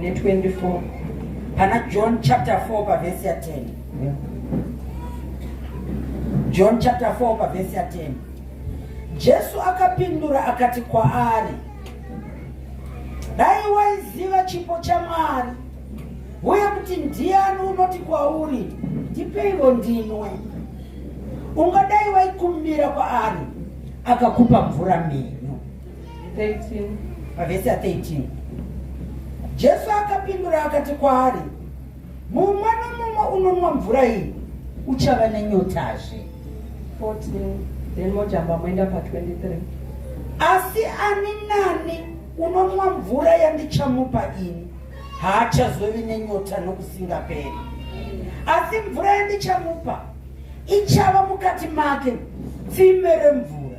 ne 24 pana john chapter 4 pavhesi ya 10 john chapter 4 pavhesi ya 10 jesu akapindura akati kwaari dai waiziva chipo chamwari uye kuti ndiani unoti kwauri ndipeivo ndinwe ungadai waikumbira kwaari akakupa mvura mhenyu 13 pavhesi ya 13 jesu akapindura akati kwaari mumwe nomumwe unonwa mvura iyi uchava nenyotazve 14 then mojamba moenda pa 23 asi ani nani unonwa mvura yandichamupa ini haachazovi nenyota nokusingaperi asi mvura yandichamupa ichava mukati make tsime remvura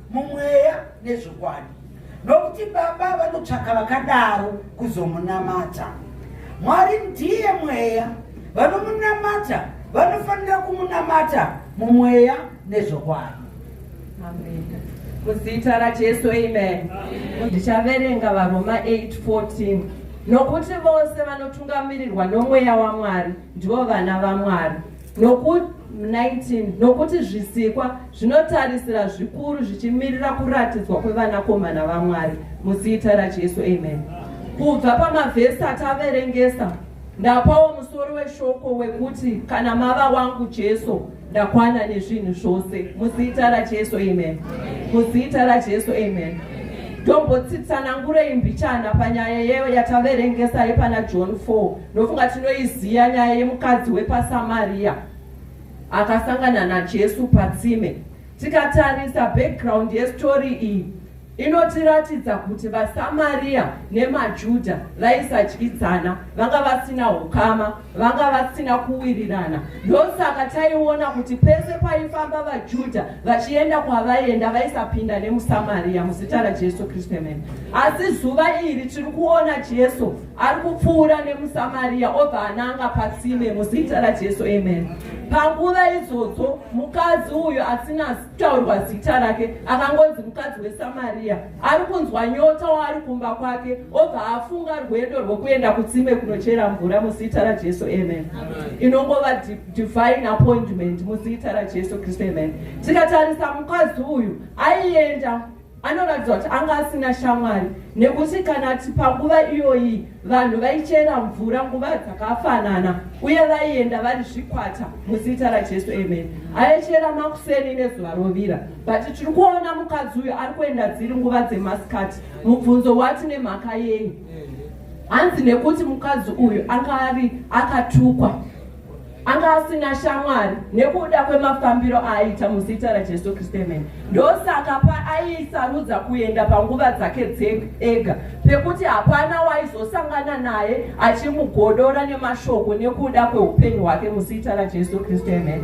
mumweya nezvokwadi nokuti baba vanotsvaka vakadaro kuzomunamata mwari ndiye mweya vanomunamata vanofanira kumunamata mumweya nezvokwadi muzita rajesu amen ndichaverenga varoma 814 nokuti vose vanotungamirirwa nomweya wamwari ndivo vana vaMwari nokuti 19 nokuti zvisikwa zvinotarisira zvikuru zvichimirira kuratidzwa kwevanakomana vaMwari muzita raJesu amen kubva pamavhesi ataverengesa ndapawo musoro weshoko wekuti kana mava wangu Jesu Ndakwana nezvinhu zvose muzita raJesu amen. Muzita raJesu amen. Ndombotsitsanangurei mbichana panyaya yeyo yataverengesa yepana John 4. Ndofunga tinoiziya nyaya yemukadzi wepaSamaria akasangana naJesu patsime. Tikatarisa background yestory iyi inotiratidza kuti vaSamariya nemaJuda vaisadyidzana, vanga vasina hukama, vanga vasina kuwirirana. Ndosaka taiona kuti pese paifamba vaJuda vachienda kwavaienda vaisapinda nemuSamariya muzita raJesu Kristu emene. Asi zuva iri tiri kuona Jesu ari kupfuura nemuSamariya obva ananga patsime muzita raJesu emene. Panguva idzodzo mukadzi uyu asina kutaurwa zita rake akangonzi mukadzi wesamariya ari kunzwa nyota waari kumba kwake obva afunga rwendo rwekuenda kutsime kunochera mvura muzita rajesu amen inongova divine appointment muzita rajesu kristu amen tikatarisa mukadzi uyu aienda Anoratidza kuti anga asina shamwari nekuti kana ti panguva iyoyi vanhu vaichera mvura nguva dzakafanana uye vaienda vari zvikwata muzita rajesu amen aichera makuseni nezuva rovira but tiri kuona mukadzi uyu ari kuenda dziri nguva dzemasikati mubvunzo wati nemhaka yei hanzi nekuti mukadzi uyu anga ari akatukwa anga asina shamwari nekuda kwemafambiro aaita muzita rajesu kristu emene ndosaka paaisarudza kuenda panguva dzake ega pekuti hapana waizosangana naye achimugodora nemashoko nekuda kweupenyu hwake muzita rajesu kristu emene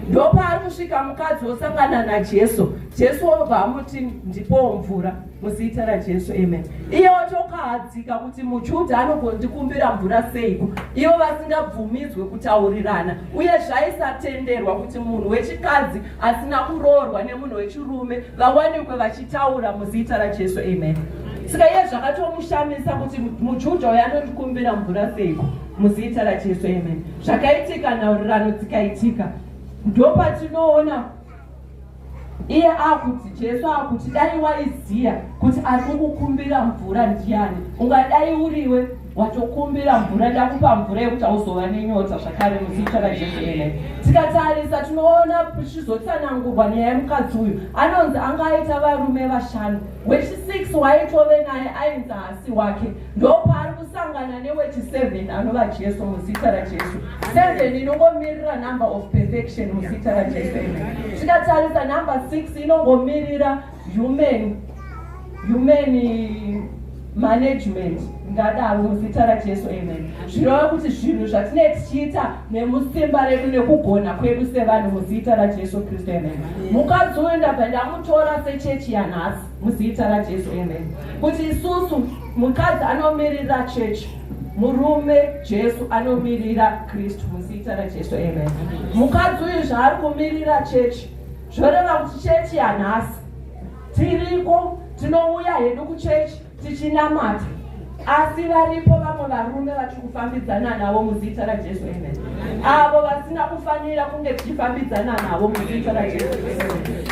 ndopaari kusvika mukadzi wosangana najesu jesu obva amuti ndipowo mvura muzita rajesu amen iye watokahadzika kuti mujudha anogondikumbira mvura seiko ivo vasingabvumidzwe kutaurirana uye zvaisatenderwa kuti munhu wechikadzi asina kuroorwa nemunhu wechirume vawanikwe vachitaura muzita rajesu amen saka iye zvakatomushamisa kuti mujudha uyo anondikumbira mvura seiko muzita rajesu amen zvakaitika nhaurirano dzikaitika ndopatinoona iye akuti jesu akuti dai waiziya kuti ari kukukumbira mvura ndiyani ungadai uriwe watokumbira mvura ndakupa mvura yekuti auzova nenyota zvakare muzita rajesu ene tikatarisa tinoona tichizotsanangurwa nyaya yemukadzi uyu anonzi anga aita varume vashanu wechisiks waitove naye ainzi hasi wake ndopaari kusangana newechi 7 anova jesu muzita rajesu 7 inongomirira number of perfection muzita rajesu tikatarisa number 6 inongomirira human human management ngadaro muzita rajesu amen zvirova kuti zvinhu zvatinee tichiita nemusimba redu nekugona kwedu sevanhu muzita rajesu kristu amen mukadzi uyu ndabva ndamutora sechechi yanhasi Muzita raJesu amen. Kuti isusu mukadzi anomirira church murume Jesu anomirira Kristu muzita raJesu amen. Mukadzi uyu zvaari kumirira church zvoreva kuti church yanhasi tiriko tinouya hedu kuchurch tichinamata Asi varipo vamwe varume vatiri kufambidzana navo muzita raJesu, amen, avo vasina kufanira kunge tichifambidzana navo muzita raJesu,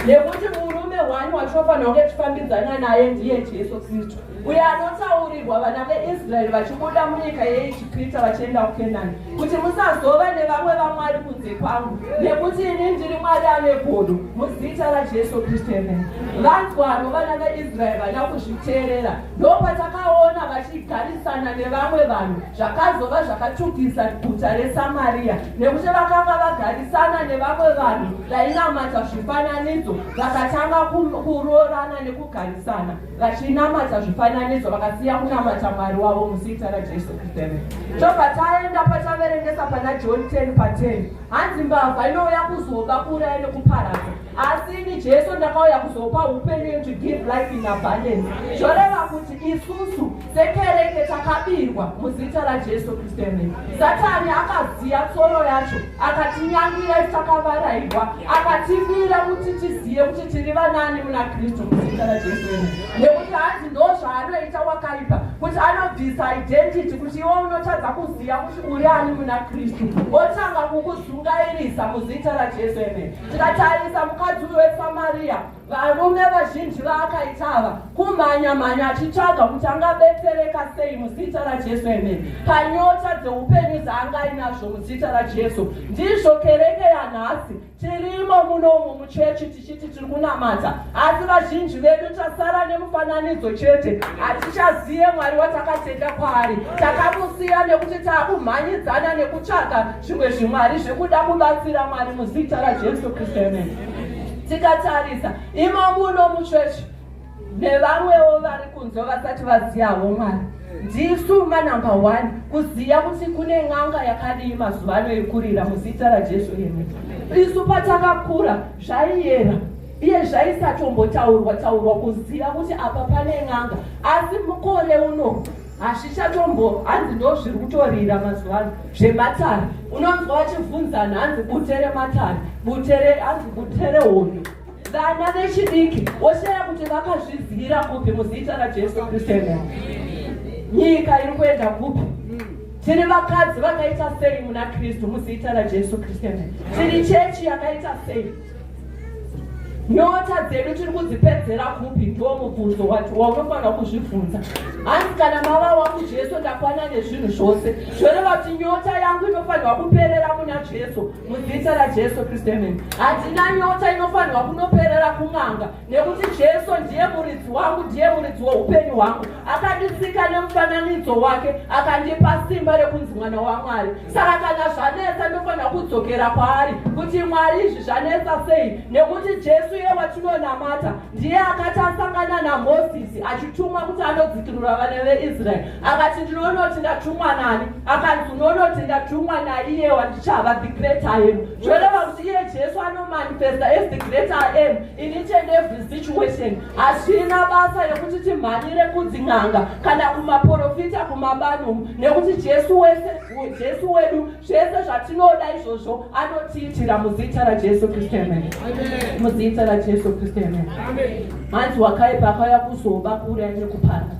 nekuti murume hwani watinofanira kunge tichifambidzana naye ndiye Jesu Kristu, uye anotaurirwa vana veIsraeri vachibuda munyika yeIjipita vachienda kuKenani, kuti musazova nevamwe vamwari kunze kwangu, nekuti ini ndiri Mwari ane godo, muzita raJesu Kristu, amen. Vanzwaro vana veIsraeri vana kuzviteerera ndopatakaona vachigarisana nevamwe vanhu zvakazova zvakatukisa guta resamariya nekuti vakanga vagarisana nevamwe vanhu vainamata zvifananidzo vakatanga kuroorana nekugarisana vachinamata zvifananidzo vakasiya kunamata mwari wavo muzita rajesu kristu tobva taenda pataverengesa pana john 10 pa 10 hanzi mbavha inouya kuzoba kuuraya nekuparadza asi ini jesu ndakauya kuzopa upenyu to give life in abundance zvoreva kuti isusu sekereke takabirwa muzita rajesu kristu emene satani akaziya tsoro yacho akatinyangira takavarairwa akatibira kuti tizive kuti tiri vanani muna kristu muzita rajesu emene nekuti hanzi ndo zvaanoita wakaipa kuti anobvisa identity kuti iwe unotadza kuziva kuti uri ani muna kristu otanga kukuzungairisa muzita rajesu emene Tikatarisa mukadzi uyu weSamaria, varume vazhinji vaakaita ava kumhanya mhanya achitsvaga kuti angabetsereka sei muzita raJesu emene panyota dzeupenyu dzaanga ainazvo muzita raJesu. Ndizvo kereke yanhasi tirimo munomu muchechi tichiti tiri kunamata, asi vazhinji vedu tasara nemufananidzo chete, hatichazive Mwari watakatenda kwaari. Takamusiya nekuti taakumhanyidzana nekutsvaga zvimwe zvimwari zvekuda kubatsira mwari muzita rajesu kristu amen tikatarisa imomu uno muchechi nevamwewo vari kunzwa vasati vaziyawo mwari ndisu manumber one kuziva kuti kune n'anga yakadii mazuva ano yekurira muzita rajesu amen isu patakakura zvaiyera iye zvaisatombotaurwa taurwa kuziva kuti apa pane n'anga asi mukore uno hazvichatombo hanzi ndo zviri kutorira mazuva ano zvematare unonzwa vachibvunzana hanzi bute rematare bute hanzi bute rehondo vana vechidiki woshaya kuti vakazvizivira kupi muzita rajesu kristu ena nyika iri kuenda kupi tiri vakadzi vakaita sei muna kristu muzita rajesu kristu ena tiri chechi yakaita sei nyota dzedu tiri kudzipedzera kupi ndiwo mubvunzo waunofanira kuzvibvunza hanzi kana mava wangu jesu ndakwana nezvinhu zvose zvoreva kuti nyota yangu inofanirwa kuperera muna jesu mudzita rajesu kristu amen handina nyota inofanirwa kunoperera kun'anga nekuti jesu ndiye muridzi wangu ndiye muridzi weupenyu hwangu akandisika nemufananidzo wake akandipa simba rekunzi mwana wamwari saka kana zvanetsa ndofanira kudzokera kwaari kuti mwari izvi zvanetsa sei nekuti jesu iye watinonamata ndiye akati asangana namosisi achitumwa kuti anodzikirura vana veisraeri akati ndinoona kuti ndatumwa nani akanzi unoona kuti ndatumwa naiye wandichava the great im zvoreva kuti iye jesu anomanifesta as the great im In each and every situation, hazvina basa rekuti timhanyire kudzin'anga kana kumaporofita kumabanu nekuti Jesu wese Jesu wedu zvese zvatinoda izvozvo anotiitira muzita raJesu Kristu amen. Muzita raJesu Kristu amen. Hanzi wakaipa akauya kuzoba kuuraya nekuparadza.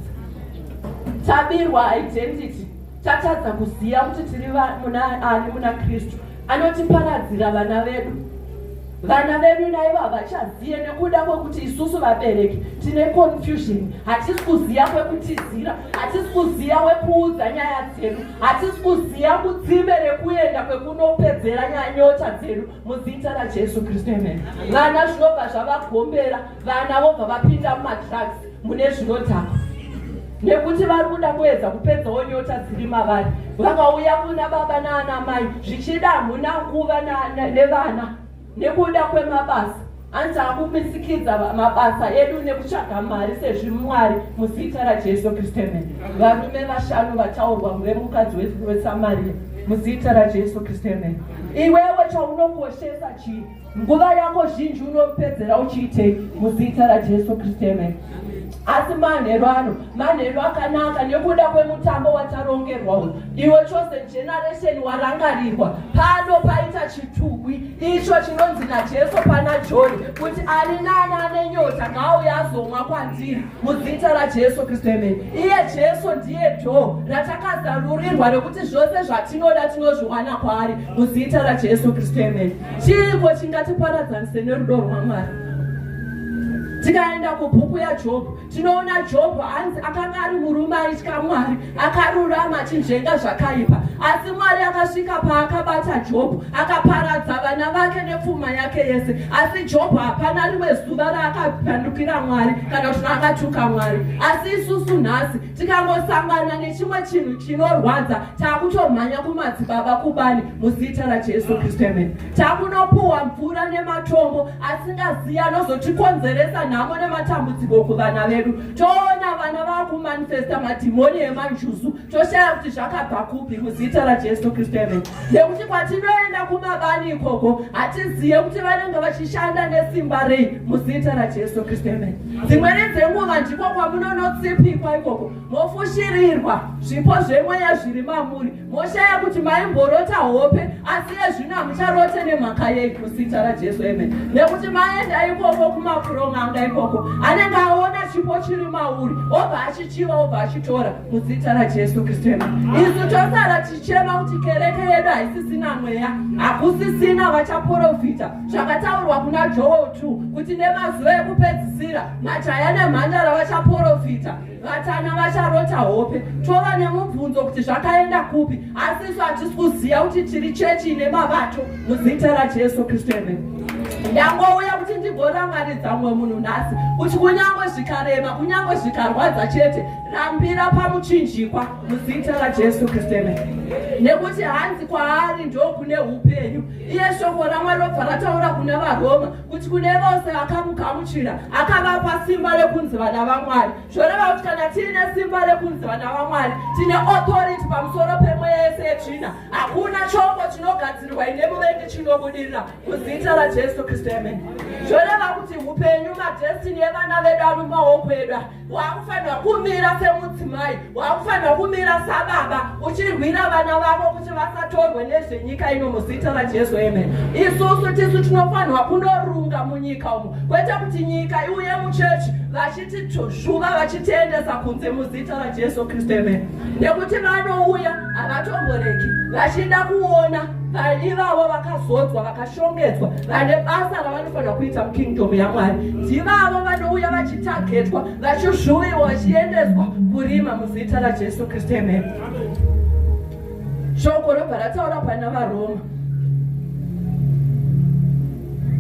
Tabirwa identity tatadza kuziva kuti tiri munaani muna kristu anotiparadzira vana vedu vana vedu naivo havachazive nekuda kwekuti isusu vabereki tine confusion hatisi kuziva kwekutizira hatisi kuziva wekuudza nyaya dzedu hatisi kuziva kutsime rekuenda kwekunopedzera nyanyota dzedu muzita rajesu kristu amen vana zvinobva zvavagombera vana vobva vapinda mumadrugs mune zvinodhakwa nekuti vari kuda kuedza kupedzawo nyota dziri mavari vakauya kuna baba naana mai zvichida hamuna nguva nevana nekuda kwemabasa anzi akumisikidza mabasa edu nekutsvaga mari sezvimwari muzita rajesu kristu amen varume vashanu vataurwa muve mukadzi wesamariya muzita rajesu kristu amen iwewe chaunokoshesa chii nguva yako zhinji unopedzera uchiitei muzita rajesu kristu amen asi manheru ano manheru akanaka nekuda kwemutambo watarongerwa uyu iwe chosen generation warangarirwa pano paita chitugwi icho chinonzi najesu pana joni kuti ani nani ane nyota ngaauya azomwa kwandiri muzita rajesu kristu amen iye jesu ndiye dho ratakazarurirwa rekuti zvose zvatinoda tinozviwana kwaari muzita rajesu kristu amen chiiko chingatiparadzanise nerudo rwamwari tikaenda kubhuku yajobho tinoona jobho hanzi akanga ari murume aitya mwari akarurama achinzvenga zvakaipa asi mwari akasvika paakabata jobho akaparadza vana vake nepfuma yake yese asi jobho hapana rimwe zuva raakapandukira mwari kana kuti akatuka mwari asi isusu nhasi tikangosangana nechimwe chinhu chinorwadza taakutomhanya kumadzibaba kubani muzita rajesu kristu amen takunopuhwa mvura nematombo asingaziya anozotikonzeresa nhamo nematambudziko kuvana vedu toona vana vakumanifesta madhimoni emanjuzu toshaya kuti zvakabva kupi muzita rajesu kristu amen nekuti kwatinoenda kumabani ikoko hatizive kuti vanenge vachishanda nesimba rei muzita rajesu kristu amen dzimweni dzenguva ndiko kwamunonotsipikwa ikoko mofushirirwa zvipo zvemweya zviri mamuri moshaya kuti maimborota hope asi yezvino hamucharote nemhaka yei muzita rajesu amen nekuti maenda ikoko kumapuromanga ikoko anenge aona chipo chiri mauri obva achichiva obva achitora muzita rajesu kristu isu tosara tichema kuti kereke yedu haisisina mweya hakusisina vachaporofita zvakataurwa kuna joel 2 kuti nemazuva ekupedzisira majaya nemhandara vachaporofita vatana vacharota hope tova nemubvunzo kuti zvakaenda kupi asi isu hatisi kuziva kuti tiri chechi ine mabato muzita rajesu kristu eme ndangouya kuti ndigorangaridza mumwe munhu nhasi kuti kunyange zvikarema kunyange zvikarwadza chete Rambira pamuchinjikwa muzita raJesu Kristu nekuti hanzi kwaari ndokune upenyu. Iye shoko raMwari robva rataura kuna vaRoma kuti kune vose vakamugamuchira akavapa simba rekunzi vana vaMwari. Zvoreva kuti kana tiine simba rekunzi vana vaMwari tine authority pamusoro pemweya yese yetsvina. Hakuna chombo chinogadzirirwa ine muvengi chinobudirira muzita raJesu Kristu. Zvoreva kuti upenyu madestiny evana vedu ari mumaoko edu. wakufanira kumira semudzimai wakufanira kumira sababa uchirwira vana vavo kuti vasatorwe nezvenyika ino muzita rajesu amen isusu tisu tinofanirwa kunorunga munyika umo kwete kuti nyika iuye muchechi vachiti zvuva vachitiendesa kunze muzita rajesu kristu amen nekuti vanouya havatomboreki vachida kuona vaivavo vakazodzwa vakashongedzwa vane basa Fanira kuita mukingdom yaMwari. Ndivavo vanouya vachitagetwa, vachizvuviwa, vachiendeswa kurima muzita raJesu Kristu. Amen. Shoko robva rataura pana vaRoma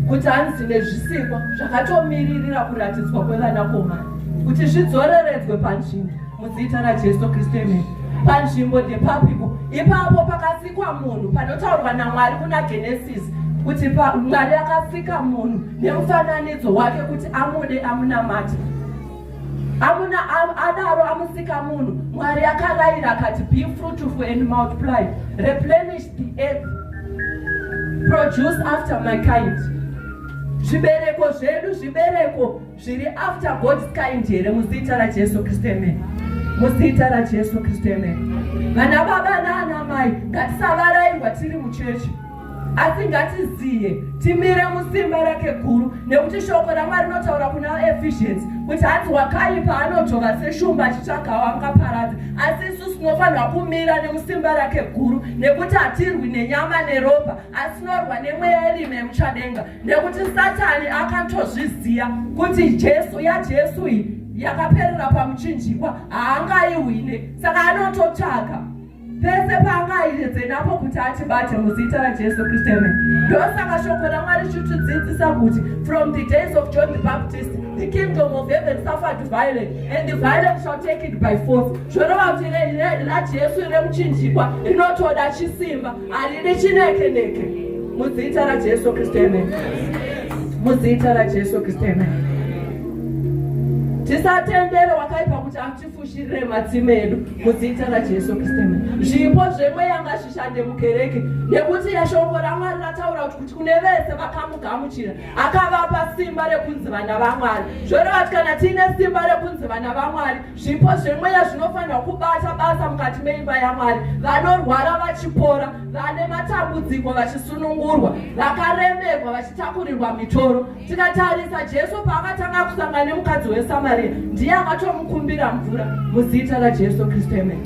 kuti hanzi nezvisikwa zvakatomiririra kuratidzwa kwevanakomana kuti zvidzoreredzwe panzvimbo muzita rajesu kristu amen panzvimbo depapiko ipapo pakasikwa munhu panotaurwa namwari kuna genesis kuti mwari akasika munhu nemufananidzo wake kuti amude amunamati amuna adaro amusika munhu mwari akarayira akati be fruitful and multiply replenish the earth produce after my kind zvibereko zvedu zvibereko zviri after God's kind here muzita raJesu Kristu amen muzita raJesu Kristu amen vana baba naana mai ngatisavarairwa tiri muchechi asi ngatiziye timire musimba rake guru nekuti shoko ramwari rinotaura kuna vaefficiency kuti hanzi wakaipa anojova seshumba achitsvagawo angaparadza asi isu sinofanirwa kumira nemusimba rake guru nekuti hatirwi nenyama neropa asi norwa nemweya irime yemuchadenga nekuti satani akatozviziva kuti jesu yajesu iyi yakaperera pamuchinjikwa haangaihwine saka anototsvaga pese paangaiedze napo kuti atibate muzita rajesu kristu ame ndosaka shoko ramwari chitidzidzisa kuti from the days of john the baptist the kingdom of heaven suffered violent and the violent shall take it by force zvorova kuti rajesu remuchinjikwa rinotoda chisimba Haridi chineke neke. Muzita ra Jesu Kristu amen. Muzita ra Jesu Kristu amen. tisatendere wakaipa kuti atifushirire matsime edu muzita rajesu kristu zvipo zvemweya ngazvishande mukereke nekuti yashoko ramwari rataura kuti kuti kune vese vakamugamuchira akavapa simba rekunzi vana vamwari zvoreva kuti kana tiine simba rekunzi vana vamwari Zvipo zvemweya zvinofanirwa kubata basa mukati meimba yaMwari. Vanorwara vachipora, vane matambudziko vachisunungurwa, vakaremerwa vachitakurirwa mitoro. Tikatarisa Jesu paakatanga kusangana nemukadzi weSamaria, ndiye akatomukumbira mvura muzita raJesu Kristu. Amen.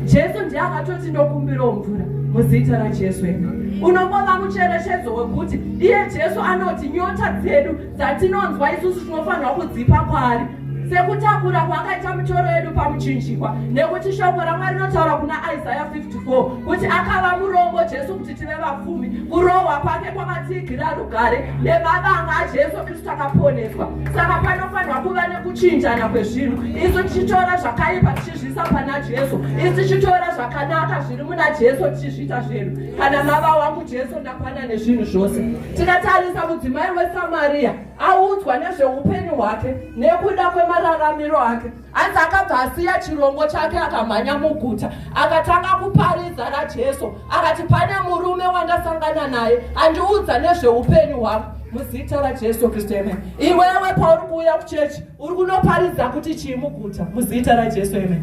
Jesu ndiye akatoti ndokumbirawo mvura muzita raJesu. Amen. Unombova mucherechedzo wekuti iye Jesu anoti nyota dzedu dzatinonzwa isusu tinofanirwa kudzipa kwaari sekutakura kwaakaita mitoro yedu pamuchinjikwa nekuti shoko ramwari rinotaura kuna isaya 54 kuti akava murongo jesu kuti tive vapfumi kurohwa kwake kwakatiigira rugare nemavanga ajesu kristu akaponeswa saka panofanirwa kuva nekuchinjana kwezvinhu isu tichitora zvakaipa tichizviisa pana jesu isu tichitora zvakanaka zviri muna jesu tichizviita zvedu kana mava wangu jesu ndakwana nezvinhu zvose Tikatarisa mudzimai weSamaria audzwa nezveupenyu hwake nekuda kwemararamiro ake, hanzi akabva asiya chirongo chake akamhanya muguta akatanga kuparidza raJesu akati, pane murume wandasangana naye andiudza nezveupenyu hwangu muzita raJesu Kristu. Amen. Iwewe pauri kuuya kuchechi Uri kunoparidza kuti chii muguta muzita raJesu amen.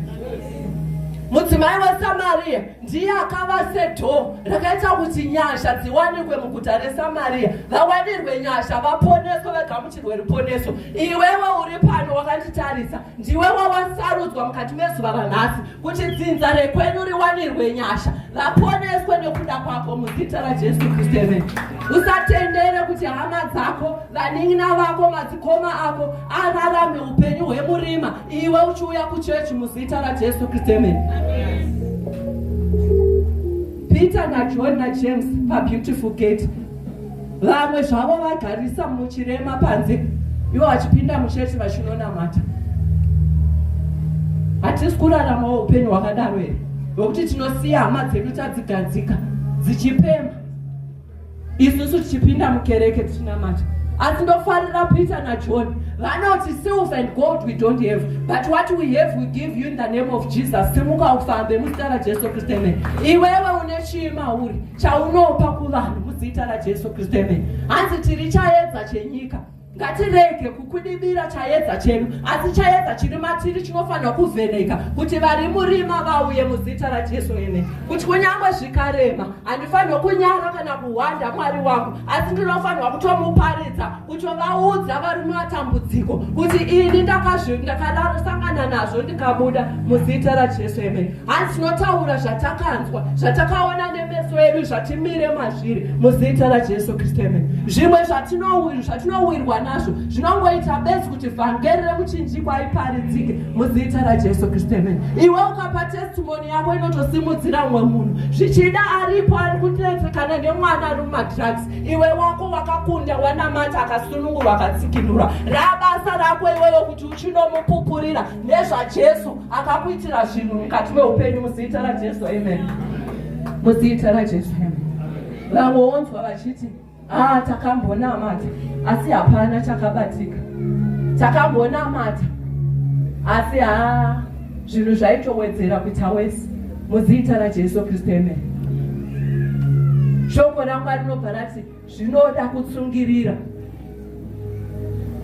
Mudzimai weSamaria ndiye akava sedhoo rakaita kuti nyasha dziwanikwe muguta reSamaria, vawanirwe nyasha, vaponeswe, vagamuchirwe ruponeso. Iwewe uri pano wakanditarisa, ndiwe wawasarudzwa mukati mezuva ranhasi kuti dzinza rekwenyu riwanirwe nyasha, vaponeswe nekuda kwako muzita raJesu Kristu. Amen. Usatendere kuti hama dzako vanin'ina vako madzikoma ako ararame upenyu hwemurima iwe uchiuya kuchechi muzita rajesu kristu amen peter najohn najames pabeautiful gate vamwe zvavo vagarisa muchirema panze ivo vachipinda muchechi vachinonamata hatisi kuraramawo upenyu hwakadaro here wekuti tinosiya hama dzedu tadzigadzika dzichipemba isusu tichipinda mukereke tichinamata asi ndofarira peter najohn vanoti sills and gold we don't have but what we have we give you in the name of jesus simuka ufambe muzita rajesu kristu amen iwewe une chii mauri chaunopa kuvanhu muzita rajesu kristu amen hanzi tiri chaedza chenyika Ngatirege kukudibira chayedza chedu, asi chayedza chiri matiri chinofanira kuvheneka kuti vari murima vauye muzita raJesu. Ene kuti kunyange zvikarema, handifanirwa kunyara kana kuhwanda Mwari wangu, asi ndinofanirwa kutomuparidza, kutovaudza vari mumatambudziko kuti ini ndakazvi ndakarasangana nazvo ndikabuda muzita raJesu. Ene hanzi tinotaura zvatakanzwa zvatakaona nemeso edu zvatimire mazviri muzita rajesu kristu emene zvimwe zvatinowirwa nazvo zvinongoita besi kuti vhangeri rekuchinjikwa iparidzike muzita rajesu kristu emene iwe ukapa testimoni yako inotosimudzira umwe munhu zvichida aripo ari kuteetekana nemwana ari mumadrugs iwe wako wakakunda wanamata akasunungurwa akatsikinurwa rabasa rako iweyo kuti uchinomupupurira nezvajesu akakuitira zvinhu mukati meupenyu muzita rajesu amen muzita rajesu amen vamwe wonzwa vachiti haa ah, takambonamata asi hapana chakabatika takambonamata asi haa ah, zvinhu zvaitowedzera kuita wese muzita rajesu kristu amen shoko ramwari rinobva rati zvinoda kutsungirira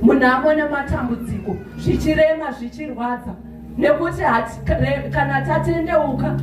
munhamo nematambudziko zvichirema zvichirwadza nekuti kana tatendeuka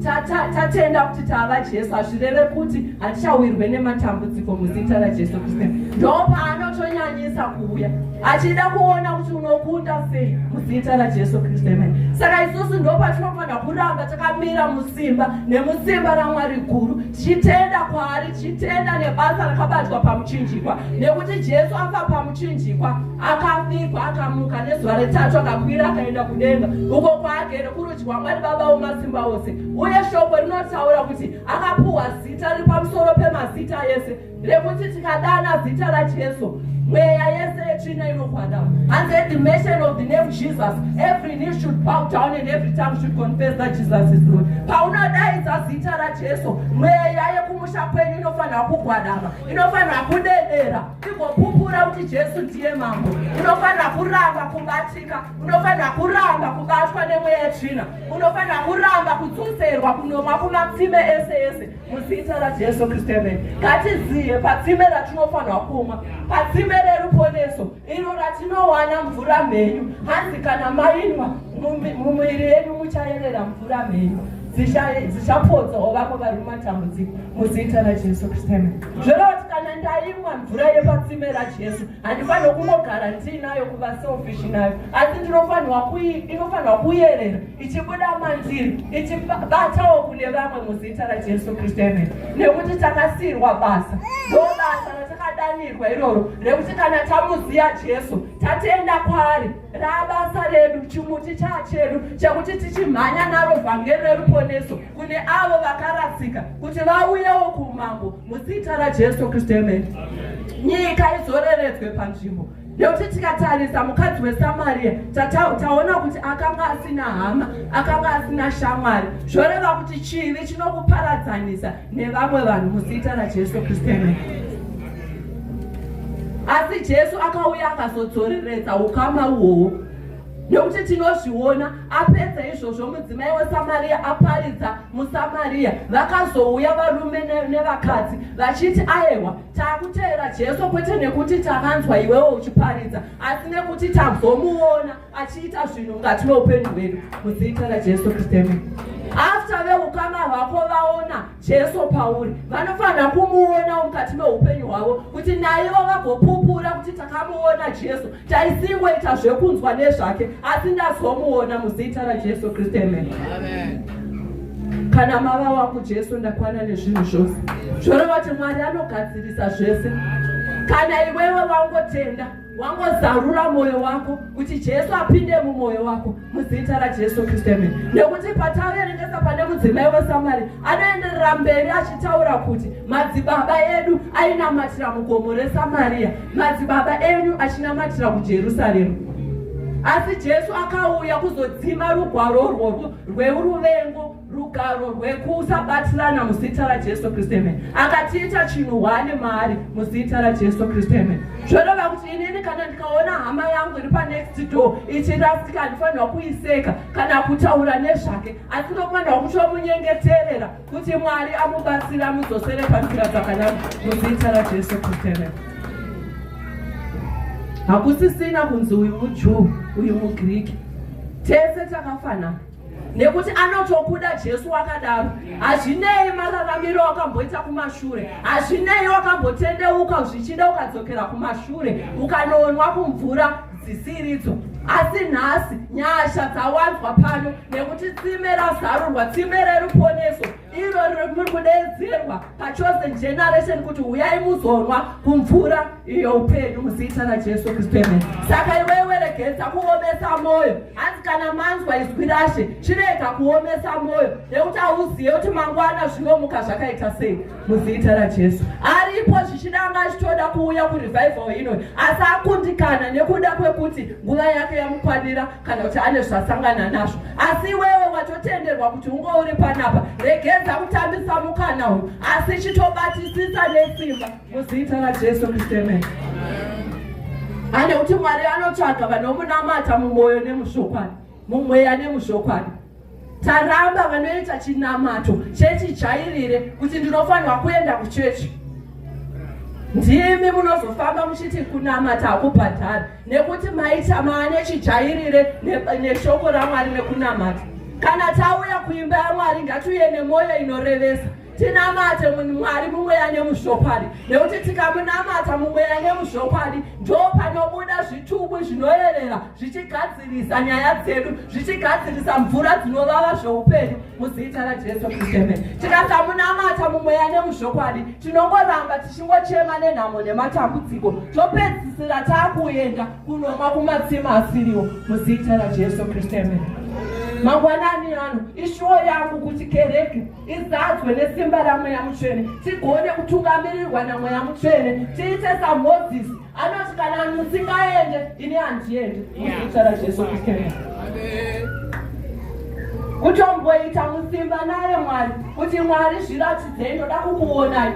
tatenda kuti tava jesu hazvireve kuti hatichawirwe nematambudziko muzita rajesu kristu ndopaanotonyanyisa kuuya achida kuona kuti unokunda sei muzita rajesu kristu emene saka isusu ndopatinofanira kuramba takamira musimba nemusimba ramwari guru tichitenda kwaari tichitenda nebasa rakabatwa pamuchinjikwa nekuti jesu afa pamuchinjikwa akavigwa akamuka nezuva retatu akakwira akaenda kudenga uko kwaagere kurudyi wamwari baba womasimba ose uye shoko rinotaura kuti akapuhwa zita riri pamusoro pemazita ese rekuti tikadana zita rajesu mweya yese yetsvina inokwana hanzi at the mention of the name jesus every knee should bow down and every tongue should confess that jesus is lord paunodaidza zita rajesu mweya yekumusha kwenyu inofanira kugwadama inofanira kudedera igopupura kuti jesu ndiye mambo unofanira kuramba kubatika unofanira kuramba kubatwa nemweya yetsvina unofanira kuramba kudzunzerwa kunomwa kumatsime ese ese muzita rajesu kristu amen ngatizive patsime ratinofanirwa kumwa patsime reruponeso iro ratinowana mvura mhenyu hanzi kana mainwa mumuviri yenyu muchayerera mvura mhenyu dzichapodza ovako vari mumatambudziko muzita rajesu kristu amen zvoreva kuti kana ndaimwa mvura yepatsime rajesu handifanirwa kungogara ndiinayo kuva selfish nayo asi ndinofanirwa inofanirwa kuyerera ichibuda mandiri ichibatawo kune vamwe muzita rajesu kristu amen nekuti takasiyirwa basa ndobasa ratakadanirwa iroro rekuti kana tamuziya jesu tatenda kwaari rabasa redu chimuti chachedu chekuti tichimhanya naro vhangeri reruponeso kune avo vakarasika kuti vauyewo kuumambo muzita rajesu kristu amen nyika izoreredzwe panzvimbo nekuti tikatarisa mukadzi wesamariya taona kuti akanga asina hama akanga asina shamwari zvoreva kuti chivi chinokuparadzanisa nevamwe vanhu muzita rajesu kristu asi jesu akauya akazodzoreredza ukama uhwohwo nekuti tinozviona apedza izvozvo mudzimai wesamariya aparidza musamariya vakazouya varume nevakadzi vachiti aewa Takuteera Jesu kwete nekuti takanzwa iwewo uchiparidza asi nekuti tazomuona achiita zvinhu mukati meupenyu hwedu muzita raJesu Kristu. After veukama hwako vaona Jesu pauri, vanofanira kumuonawo mukati meupenyu hwavo kuti naivo vagopupura kuti takamuona Jesu. Taisingoita zvekunzwa nezvake asi ndazomuona muzita raJesu Kristu amen. Kana mava wangu Jesu ndakwana nezvinhu zvose. Zvoreva kuti Mwari anogadzirisa zvese. Kana iwewe wangotenda wangozarura mwoyo wako kuti jesu apinde mumwoyo wako muzita rajesu kristu emene nekuti pataverengesa pane mudzimai wesamari anoenderera mberi achitaura kuti madzibaba edu ainamatira mugomo resamariya madzibaba enyu achinamatira kujerusaremu asi jesu akauya kuzodzima rugwaro urworwo rweuruvengo rugaro rwekusabatirana muzita rajesu kristu amen akatiita chinhu hwane maari muzita rajesu kristu amen zvoreva kuti inini kana ndikaona hama yangu iri panext door ichirasika ndifanirwa kuiseka kana kutaura nezvake asi ndokufanirwa kutomunyengeterera kuti mwari amubatsira amudzosere panzira dzakanaka muzita rajesu kristu hakusisina kunzi uyu mujuu uyu mugriki tese takafanana nekuti anotokuda jesu wakadaro hazvinei mararamiro wakamboita kumashure hazvinei wakambotendeuka zvichida ukadzokera kumashure ukanoonwa kumvura dzisiridzo asi nhasi nyasha dzawanzwa pano nekuti tsime razarurwa tsime reruponeso iro riri kudedzerwa pachosen generation kuti huyai muzonwa kumvura iyo upenyu muzita rajesu kristu amen saka iweweregedza kuomesa mwoyo hanzi kana manzwa izwi rashe chirega kuomesa mwoyo nekuti hauzive kuti mangwana zvinomuka zvakaita sei muzita rajesu aripo zvichida anga achitoda kuuya kurevival ino asi akundikana nekuda kwekuti nguva yake yamukwanira kana kuti ane zvasangana nazvo asi iwewe watotenderwa kuti unge uri panapa regedza kutambisa mukana uyu asi chitobatisisa nesimba muzita rajesu kristemen ane kuti mwari anotsvaga vanomunamata mumwoyo nemuzvokwadi mumweya nemuzvokwadi Taramba vanoita chinamato chechijairire kuti ndinofanirwa kuenda kuchechi. Ndimi munozofamba muchiti kunamata hakubhadhari nekuti maita maane chijairire neshoko raMwari nekunamata. Kana tauya kuimba yaMwari ngatiuye nemwoyo inorevesa. tinamate mwari mumweya nemuzvokwadi nekuti tikamunamata mumweya nemuzvokwadi ndo panobuda zvitubu zvinoyerera zvichigadzirisa nyaya dzedu zvichigadzirisa mvura dzinovava zveupenyu muzita rajesu kristu amen tikasamunamata mumweya nemuzvokwadi tinongoramba tichingochema nenhamo nematambudziko topedzisira taakuenda kunomwa kumatsima asiriwo muzita rajesu kristu amen mangwanani ano ishuwo yangu kuti kereke izadzwe nesimba ramweya mutsvene tigone kutungamirirwa namweya mutsvene tiite samozisi anoti kana musingaende ini handiende muzita rajesu kristu kutomboita musimba naye mwari kuti mwari zviratidzei ndoda kukuonai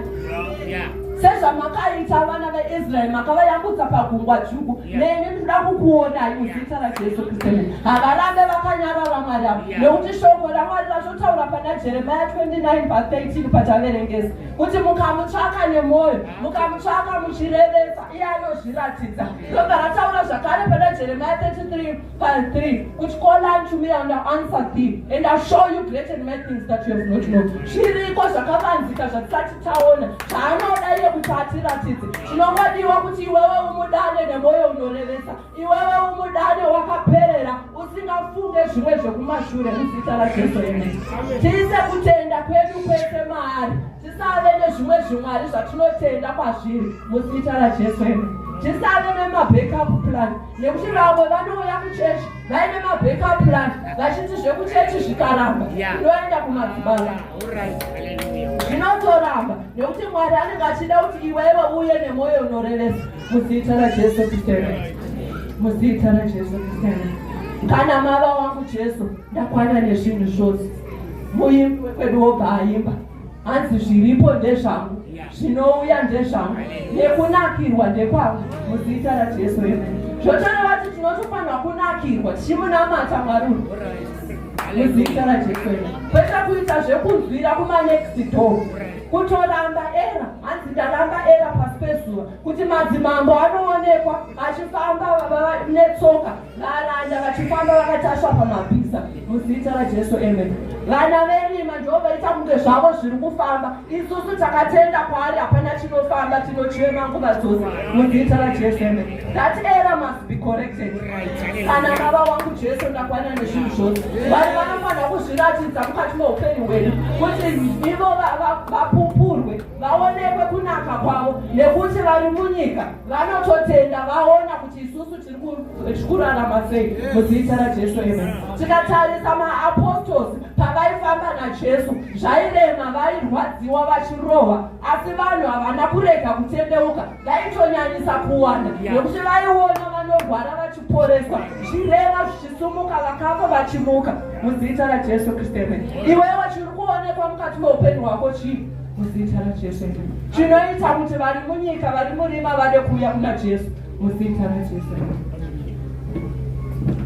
sezvamakaita vana veisraeri makavayakudza pagungwa dzvuku neni ndinoda kukuonai muzita rajesu kristu havarambe vakanyarara mwari avo nekuti shoko ramwari ratotaura pana jeremia 29 pa 13 pataverengesa kuti mukamutsvaka nemwoyo mukamutsvaka muchirevesa iye anozviratidza robva rataura zvakare pana jeremia 33 Psalm 3 kuti call unto me and I'll answer thee and I'll show you great and mighty things that you have not known zviriko zvakavanzika zvatisati taona zvaanoda iye kuti atiratidze chinongodiwa kuti iwewe umudane nemwoyo unorevesa iwewe umudane wakaperera usingafunge zvimwe zvekumashure muzita rajesu ene tiise kutenda kwedu kwese maari tisave nezvimwe zvimwari zvatinotenda kwazviri muzita rajesu ene tisave nemabackup plan nekuti vamwe vanouya kuchechi vaine mabackup plan vachinzi zvekuchechi zvikaramba ndoenda kumadzibaba zvinotoramba nekuti mwari anenge achida kuti iwewe uye nemwoyo unorevesa muzita rajesu kristu muzita rajesu kristu kana mava wangu jesu ndakwana nezvinhu zvose muimbi wekwedu wobva aimba hanzi zviripo ndezvangu zvinouya ndezvangu nekunakirwa ndekwangu muzita rajesu eme zvotoreva kuti tinotofanirwa kunakirwa tichimunamata mwari uyu muzita rajesu eme kwete kuita zvekunzwira kumanext door kutoramba era hanzi ndaramba era pasi pezuva kuti madzimambo anoonekwa achifamba baba netsoka Varanda vachifamba vakatasva pamabhiza muzita raJesu amen. Vana verima ndivo vaita kunge zvavo zviri kufamba. Isusu takatenda kwaari hapana chinofamba tinochema nguva dzose muzita raJesu amen. That error must be corrected. Kana baba wangu Jesu ndakwana nezvinhu zvose. Vanhu vanofanira kuzviratidza mukati meupenyu hwedu kuti ivo vapupurwe vaonekwe kunaka kwavo nekuti vari munyika vanototenda vaona kuti isusu zvikurarama sei muzita rajesu eme tikatarisa maapostols pavaifamba najesu zvairema vairwadziwa vachirohwa asi vanhu havana kurega kutendeuka vaitonyanyisa kuwanda nekuti vaiona vanorwara vachiporeswa zvirema zvichisumuka vakafa vachimuka muzita rajesu kristu eme iwewo chiri kuonekwa mukati meupenyu hwako chii muzita rajesu eme chinoita kuti vari munyika vari murima vade kuuya kuna jesu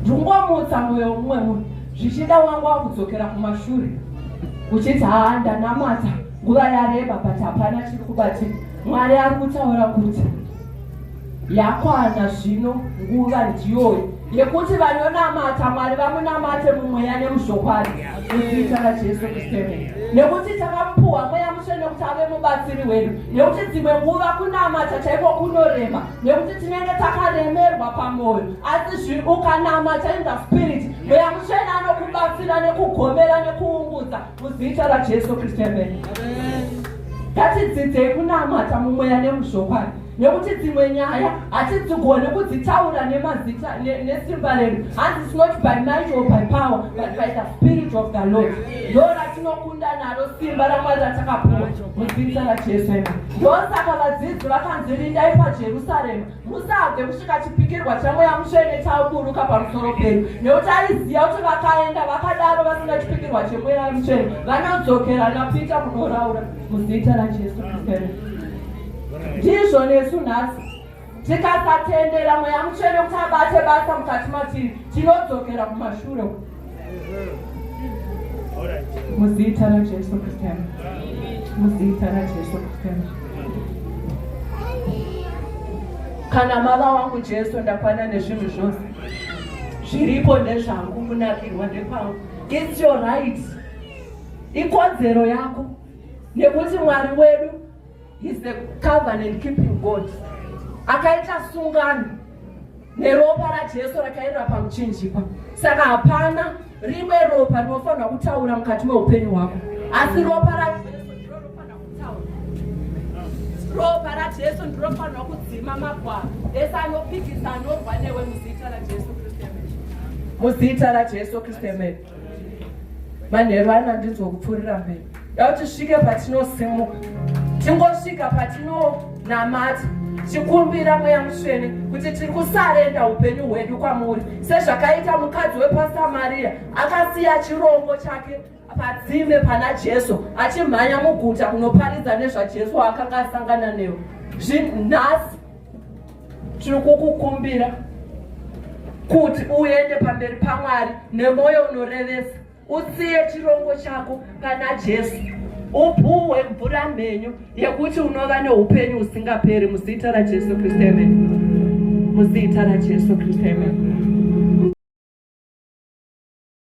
ndungomutsa mwoyo umwe uyu zvichida wangu wakudzokera kumashure uchiti haa ndanamata nguva yareba but hapana chiri kubatika mwari ari kutaura kuti yakwana zvino nguva ndiyoyi yekuti vanonamata mwari vamunamate mumweya nemuzvokwadi muzita rajesu kristu emene nekuti takamupuhwa mweya mutsvene kuti ave mubatsiri wedu nekuti dzimwe nguva kunamata chaiko kunorema nekuti tinenge takaremerwa pamwoyo asi zvi ukanamata in the spirit mweya mutsvene anokubatsira nekugomera nekuungudza muzita rajesu kristu emene ngatidzidzei kunamata mumweya nemuzvokwadi nekuti dzimwe nyaya hatidzigone kudzitaura nemazita nesimba redu hanzi its not by might or by power but by the spirit of the lord ndo ratinokunda naro simba ramwari ratakapuwa muzita rajesu ema ndosaka vadzidzi vakanzi rindai pajerusarema musabve kusvika chipikirwa chamweya mutsvene chauburuka pamusoro penyu nekuti aiziva kuti vakaenda vakadaro vasina chipikirwa chemweya mutsvene vanodzokerana pita kunoraura muzita rajesu kristu ndizvo nesu nhasi tikasatendera mweya mutsvene kuti abate basa mukati matiri tinodzokera kumashure muzita rajesu kristu muzita rajesu kristu kana mava wangu jesu ndakwana nezvinhu zvose zviripo ndezvangu kunakirwa ndekwangu its your right ikodzero yako nekuti mwari wedu He's the covenant keeping God. Akaita sungano neropa raJesu rakaenda pamuchinjikwa. Saka hapana rimwe ropa rinofanira kutaura mukati meupenyu hwako. Asi ropa raJesu ndiro rinofanira kutaura. Ropa raJesu ndiro rinofanira kudzima magwaro. Ese anopikisa anorwa newe muzita raJesu Kristu. Muzita raJesu Kristu. manheru ano andinzwa kupfuurira mberi dakuti svike patinosimuka tingosvika patinonamata tikumbira mweya musvene kuti tiri kusarenda upenyu hwedu kwamuri sezvakaita mukadzi wepasamariya akasiya chirongo chake padzime pana jesu achimhanya muguta kunoparidza nezvajesu akanga asangana newo zvinhasi tiri kukukumbira kuti uende pamberi pamwari nemwoyo unorevesa usiye chirongo chako pana jesu upuhwe mvura mhenyu yekuti unova neupenyu husingaperi muzita rajesu kristu amen muzita rajesu kristu amen